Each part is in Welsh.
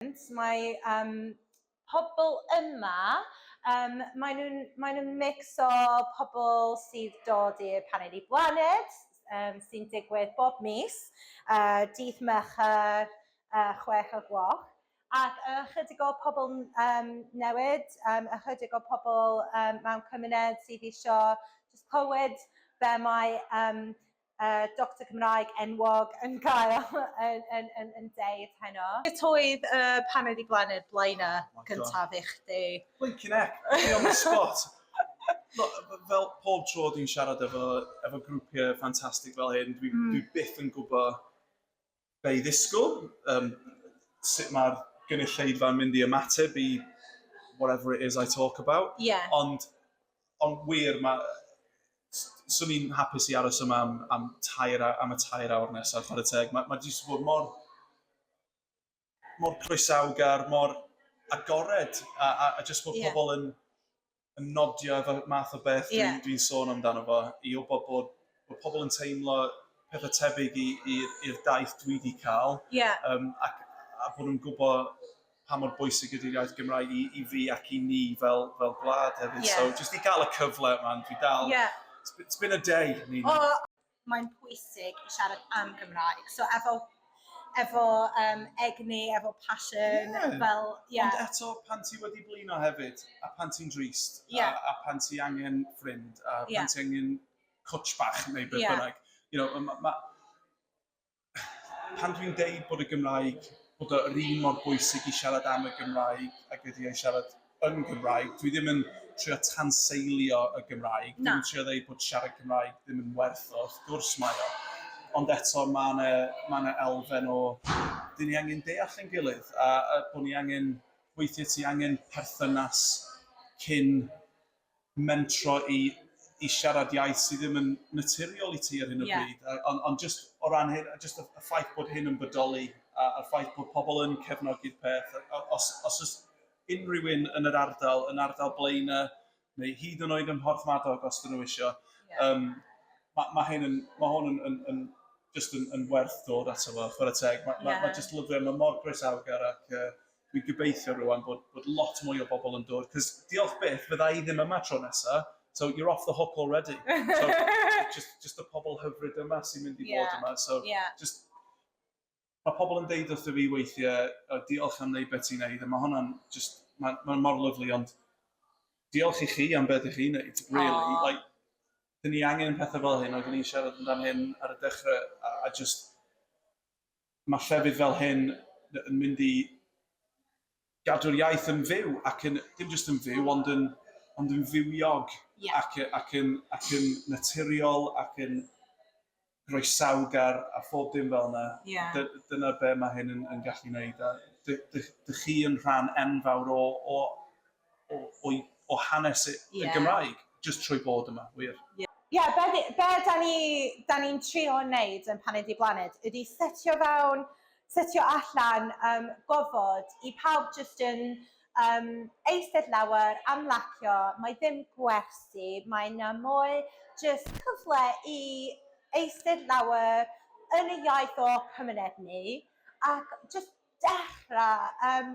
Brilliant. Mae um, pobl yma, um, maen nhw'n mae nhw mix o pobl sydd dod i'r paned i blaned, um, sy'n digwydd bob mis, uh, dydd Mercher, uh, chwech o gloch, ac ychydig o pobl um, newid, um, ychydig o pobl um, mewn cymuned sydd eisiau just clywed be mae um, yy doctor Cymraeg enwog yn cael yn yn yn yn deud heno. Sut oedd yy pan oedd 'di blannu'r blaenau cyntaf i chdi? Blinkin heck! Fi on the spot! Lo- f- fel pob tro dwi'n siarad efo efo grwpie ffantastig fel hyn dwi dwi byth yn gwbo be i ddisgwyl, um, sut mae'r gynulleidfa'n mynd i ymateb i whatever it is I talk about. Yeah. Ond, ond wir, mae... Swn i'n hapus i aros yma am, am, tair, am y tair awr nesaf, chwarae teg. Mae, mae jyst bod mor, mor croesawgar, mor agored, a, a, a jyst bod yeah. pobl yn yn nodio efo math o beth yeah. dwi'n dwi sôn amdano fo, i o bod bod pobl yn teimlo pethau tebyg i'r daith dwi wedi cael, yeah. um, ac, a bod nhw'n gwybod pa mor bwysig ydy'r iaith Gymraeg i, i fi ac i ni fel, fel gwlad hefyd. Yeah. So, jyst i gael y cyfle yma, dwi dal... Yeah. It's been a day, Nina. Oh, mae'n pwysig i siarad am Gymraeg. So efo efo um, egni, efo passion, yeah. fel... Yeah. Ond eto, pan ti wedi blino hefyd, a pan ti'n drist, yeah. a, a pan ti angen ffrind, a pan yeah. ti angen coach bach neu beth yeah. bynnag, you know, ma, ma, pan dwi'n deud bod y Gymraeg, bod yr un mor bwysig i siarad am y Gymraeg ac ydi ei siarad yn Gymraeg, dwi ddim yn trio tanseilio y Gymraeg, dwi'n trio ddeud bod siarad Cymraeg ddim yn werth o, wrth gwrs mae o, ond eto mae yna mae yna elfen o dyn ni angen deall ein gilydd a, a bod ni angen, weithiau ti angen perthynas cyn mentro i i siarad iaith sydd ddim yn naturiol i ti ar hyn o yeah. bryd. Ond on just o ran hyn, just y ffaith bod hyn yn bodoli, a, a ffaith bod pobl yn cefnogi'r peth, os, os oes unrhyw un yn yr ardal, yn ardal Blaena, neu hyd yn oed ym Mhorth Madog os dyn nhw eisiau, yeah. um, mae ma hyn yn, ma hwn yn, yn, yn, just yn, yn werth dod ato fo, chwarae teg. Mae yeah. ma, ma just lyfio, mae mor groesawgar ac uh, Dwi'n gobeithio rŵan bod, bod lot mwy o bobl yn dod, cos diolch byth, fydda i ddim yma tro nesa, so you're off the hook already. So, just, just y pobl hyfryd yma sy'n mynd i yeah. bod yma, so yeah. just mae pobl yn deud wrtho fi weithiau, o, diolch am wneud beth ti'n neud, a mae hwnna'n just, mae'n ma mor lyflu, ond diolch i chi am beth i chi wneud, really. Oh. Like, dyn ni angen pethau fel hyn, oeddwn i'n siarad amdano hyn ar y dechrau, a, a just, mae llefydd fel hyn yn mynd i gadw'r iaith yn fyw ac yn, dim jyst yn fyw, ond yn, ond yn fywiog yeah. ac, ac, yn, ac yn naturiol ac yn groesawgar a phob dim fel yna. Yeah. Dy, dyna be mae hyn yn, yn gallu gwneud. A dy, dy, dy chi yn rhan enfawr o, o o o o hanes y y Gymraeg jyst trwy bod yma, wir. Ie, be ni, be da ni, da ni'n trio neud yn Paned i Blaned ydi setio fewn, setio allan um, gofod i pawb jyst yn um, eistedd lawer, amlacio, mae ddim gwersi, mae na mwy jyst cyfle i eistedd lawer yn y iaith o cymuned ni, ac jyst dechrau um,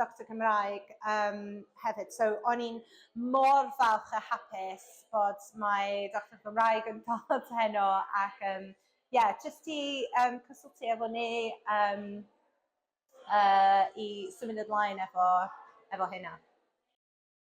Doctor Cymraeg yym hefyd so o'n i'n mor falch a hapus bod mae Doctor Cymraeg yn dod heno ac yym ie jyst i yym cysylltu efo ni yym yy i symud ymlaen efo efo hynna.